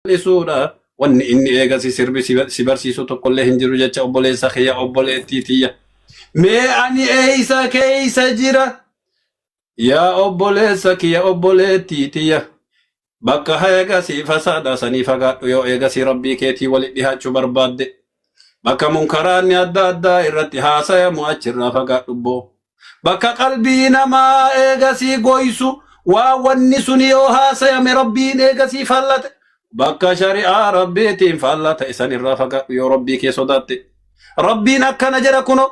bal'isuudha. Wanni inni eegasi sirbi si si barsiisu tokkollee hin jiru jecha obboleessa kiyya obboleettii tiyya. Mee ani eeysa keeysa jira? Yaa obboleessa kiyya obboleettii tiyya. Bakka eegasi fasaada sanii fagaadhu yoo eegasi rabbii keetii walitti dhihaachuu barbaadde. Bakka munkaraanni adda addaa irratti haasayamu achirraa fagaadhu boo. bakka qalbii namaa eegasii goysu waa wanni sun yoo haasayame rabbiin eegasii faallate bakka shari'aa rabbiitiin faallaa ta'e san irraa fagaadhu yoo rabbii kee sodaatte rabbiin akkana jedha kuno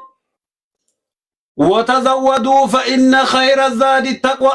watazawwaduu fa inna khayra zaadi taqwa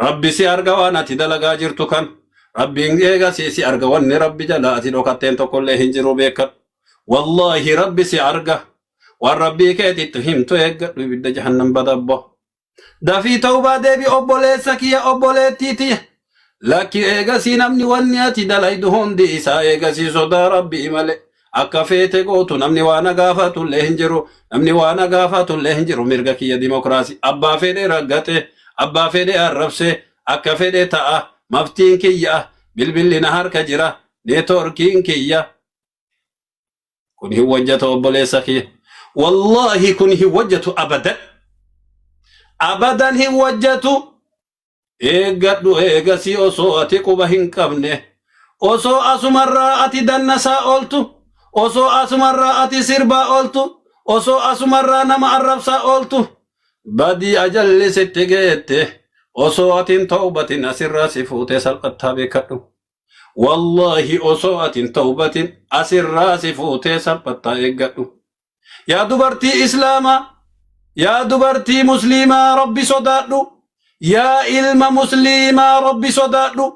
Rabbi si arga waan ati dalagaa jirtu kan. Rabbiin eegasii si arga wanni Rabbi jala ati dhokatteen tokkollee hin jiru beekadhu. Wallaahi Rabbi si arga. Waan Rabbii keetitti himtu eeggadhu ibidda jahannam badabbo. Dafii tawbaa deebi obboleessa kiyya obboleettii tiyya. Lakki eegasii namni wanni ati dalaydu hundi isaa eegasii sodaa Rabbii malee. Akka feete gootu namni waa na gaafatullee hin jiru. Namni waa na gaafatullee hin jiru. Mirga kiyya dimokiraasii. Abbaa fedhe raggaxe, abbaa fedhe arrabse, akka fedhe ta'a. Maftiin kiyya bilbilli na harka jira. Neetwoorkiin kiyya. Kun hin hojjetu obboleessa kiyya. Wallaahi kun hin hojjetu abadan. Abadan hin hojjetu. Eeggadhu eegasii osoo ati quba hin qabne, osoo asumarraa ati dannasaa ooltu, osoo asumarraa ati sirbaa ooltu, osoo asumarraa nama arrabsaa ooltu, badii ajalli sitti geette, osoo ati hin tawbatin asirraa si fuutee salphattaa beekkadhu. Wallaahi osoo ati hin tawbatin asirraa si fuutee salphattaa eeggadhu. yaa dubartii islaamaa yaa dubartii musliimaa rabbi sodaadhu yaa ilma musliimaa rabbi sodaadhu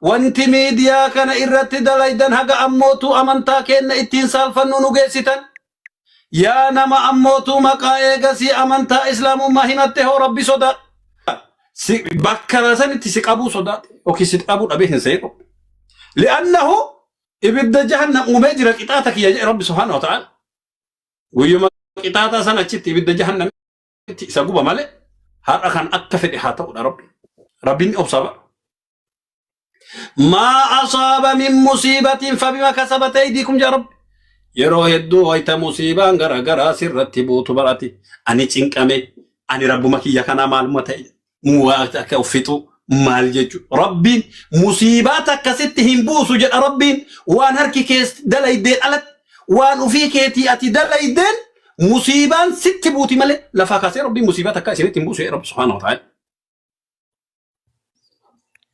wanti miidiyaa kana irratti dalaydan haga ammootu amantaa keenna ittiin saalfannu nu geessitan yaa nama ammootu maqaa eegasii amantaa islaamummaa himatte hoo rabbi sodaadhu si bakka sanitti si qabuu sodaate yookiin si dhabuu dhabee hin seequ li'annahu Ibidda jahannam uumee jira qixaata kiyya jedhe Rabbi subhaanahu wa ta'aala. Guyyuma qixaataa san achitti ibidda jahannamitti isa guba malee har'a kan akka fedhe haa ta'udha Rabbi. Rabbiin ni obsa bara. Maa asaaba min musiibatiin fabima kasabate aydiikum jaa Rabbi. Yeroo hedduu wayita musiibaan gara garaa sirratti buutu barati. Ani cinqame, ani rabbuma kiyya kanaa maaluma ta'e. Muwaa akka of fixu maal jechu rabbiin musiibaa takka sitti hin buusu jedha rabbiin waan harki kee dalaydeen alatti waan ufii keetii ati dalaydeen musiibaan sitti buuti malee lafaa kaasee rabbiin musiibaa takka isinitti hin buusu jedha rabbi subhaanahu wa ta'ala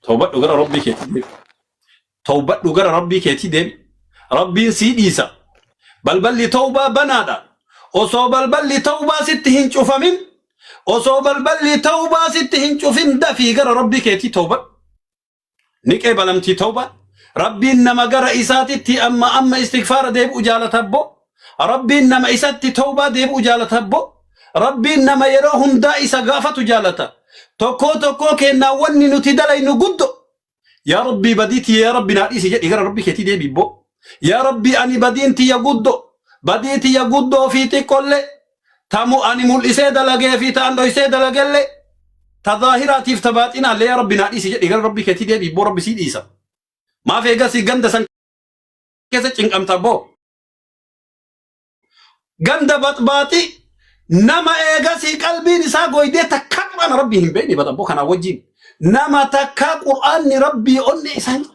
tawbadhu gara rabbii keetii deebi Tawbadhu gara Rabbii keetii deebi. Rabbiin sii dhiisa. Balballi tawbaa banaadha. Osoo balballi tawbaa sitti hin cufamin, osoo balballi tawbaa sitti hin cufin dafii gara Rabbii keetii tawbadhu. Ni qeebalamtii tawbaan. Rabbiin nama gara isaatitti amma amma istighfaara deebi'u jaalata abboo. Rabbiin nama isatti tawbaa deebi'u jaalata abboo. Rabbiin nama yeroo hundaa isa gaafatu jaalata. Tokkoo tokkoo keennaa wanni nuti dalaynu guddo. yaa rabbii badii tiyya yaa rabbi naa dhiisi jedhi gara rabbi keetii deebi boo yaa rabbi ani badiin tiyya guddo badii tiyya guddoo fi xiqqollee tamu ani mul'isee dalagee fi ta'an dhoysee dalagellee ta zaahiraatiif ta baaxinaallee yaa rabbi naa dhiisi jedhi gara rabbi keetii deebi boo rabbi sii dhiisa maaf eegasii ganda san keessa cinqamta boo ganda baxbaaxi nama eegasii qalbiin isaa goydee takkaa qur'aana rabbii hin beekne baxabboo kanaa wajjin nama takkaa qur'aanni rabbii onne isaa hin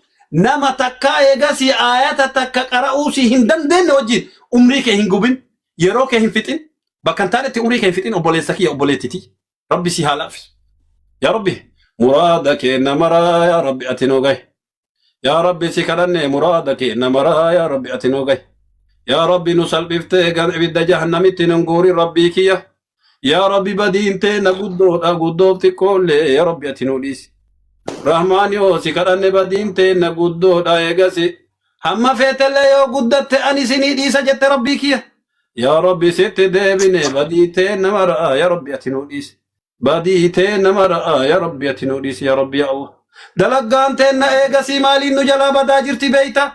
nama takkaa eegasii aayata takka qara'uu si hin dandeenye wajjin umrii kee hin gubin yeroo kee hin fixin bakka hin taanetti umrii kee hin fixin obboleessa kiyya obboleettiti rabbi si haa laaffisu yaa rabbi muraada keenna maraa yaa rabbi ati nuu gahe yaa rabbi si kadhanne muraada keenna maraa yaa rabbi ati nu gahi yaa rabbi nu salphiftee gan ibidda jahannamitti nun guuri rabbii kiyya yaa rabbi badiin teenna guddoodha guddoof xiqqoollee yaa rabbi ati nu dhiisi rahmaan yoo si kadhanne badiin teenna guddoodha eegasi hamma feetellee yoo guddatte ani isinii dhiisa jette rabbii kiyya yaa rabbi sitti deebine badii teenna maraa yaa rabbi ati nu dhiisi Badii teenna mara yaa Rabbi ati nuu dhiisi yaa Rabbi yaa Allah. Dalaggaan teenna eegasii maaliin nu jalaa badaa jirti beeyta?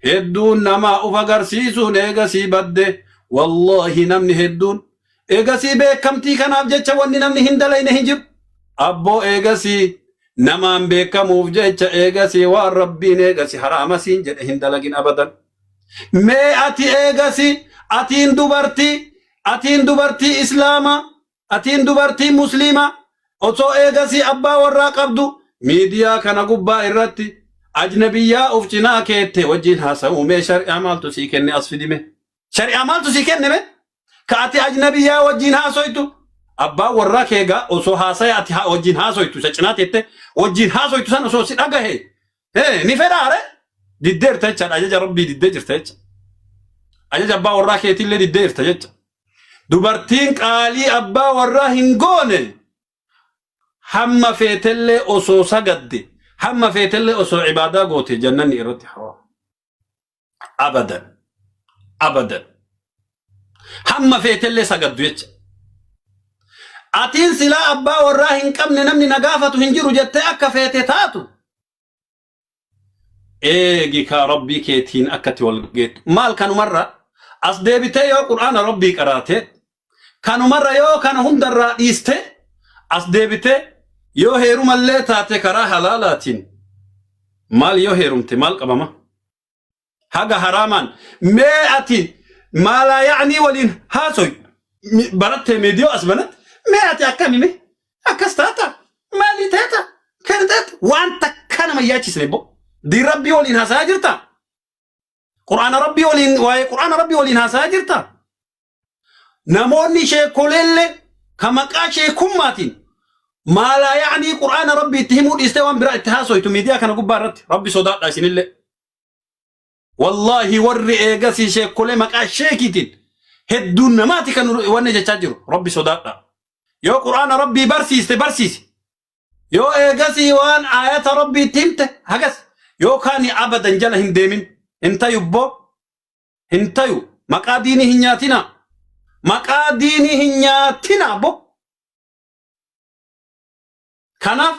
Hedduun namaa uf agarsiisuun eegasii badde. Wallaahi namni hedduun. Eegasii beekamtii kanaaf jecha wanni namni hin dalayne hin jiru. Abboo eegasii namaan beekamuuf jecha eegasii waan Rabbiin eegasi haraama siin jedhe hin dalagin abadan. Mee ati eegasii atiin dubartii atiin dubartii Islaamaa Atiin dubartii musliimaa osoo eegasii abbaa warraa qabdu miidiyaa kana gubbaa irratti ajnabiyyaa of cinaa keette wajjiin haasa'uu mee shari'aa maaltu sii kenne as fidime shari'aa maaltu sii kenne mee ka ati ajnabiyyaa wajjiin haasoytu abbaan warraa keegaa osoo haasaya ati haa wajjiin haasoytu isa cinaa teette wajjiin haasoytu san osoo si dhagahe Hee ni fedhaa re? Diddee jirta jechaadha ajaja rabbii diddee jirta jecha. Ajaja abbaa warraa keetiillee diddee jirta jecha. Dubartiin qaalii abbaa warraa hin goone hamma feetellee osoo sagadde hamma feetellee osoo ibaadaa goote jannanni irratti haraam. abadan abadan hamma feetellee sagaddu jecha atiin silaa abbaa warraa hin qabne namni na gaafatu hin jiru jettee akka feete taatu eegi kaa rabbii keetiin akkatti wal geettu maal kanumarra as deebitee yoo qur'aana rabbii qaraate Kanumarra yoo kana hundarraa dhiistee as deebitee yoo heerumallee taate karaa halaalaatiin maal yoo heerumte maal qabama? Haga haraamaan mee ati maalaa yaa'anii waliin haasoy barattee meediyoo as banatte mee ati akkami mee akkas taata maalii taata kana taata waan takka nama yaachisne boo diin rabbii waliin haasa'aa jirta quraana rabbii waliin waa'ee quraana rabbii waliin haasa'aa jirta namoonni sheekoleelle ka maqaa sheekummaatiin maalaa yaanii qur'aana rabbi itti himuu dhiistee waan biraa itti haasoytu miidiyaa kana gubbaa irratti rabbi sodaadha isinillee wallaahi warri eegasii sheekolee maqaa sheekiitiin hedduun namaati kan wanni jechaa jiru rabbi sodaadha yoo qur'aana rabbii barsiiste barsiisi yoo eegasii waan aayata rabbii itti himte hagas yookaan abadan jala hin deemin hin tayubboo hin tayu maqaa diinii hin nyaatina maqaa diinii hin nyaatina bo kanaaf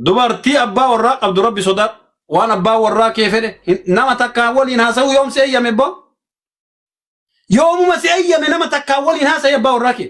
dubartii abbaa warraa qabdu rabbi sodaadhu waan abbaa warraa kee fedhe hin- nama takkaan waliin haasa'uu yoom si eeyyame bo yoomuma si eeyyame nama takkaan waliin haasa'e abbaa warraa kee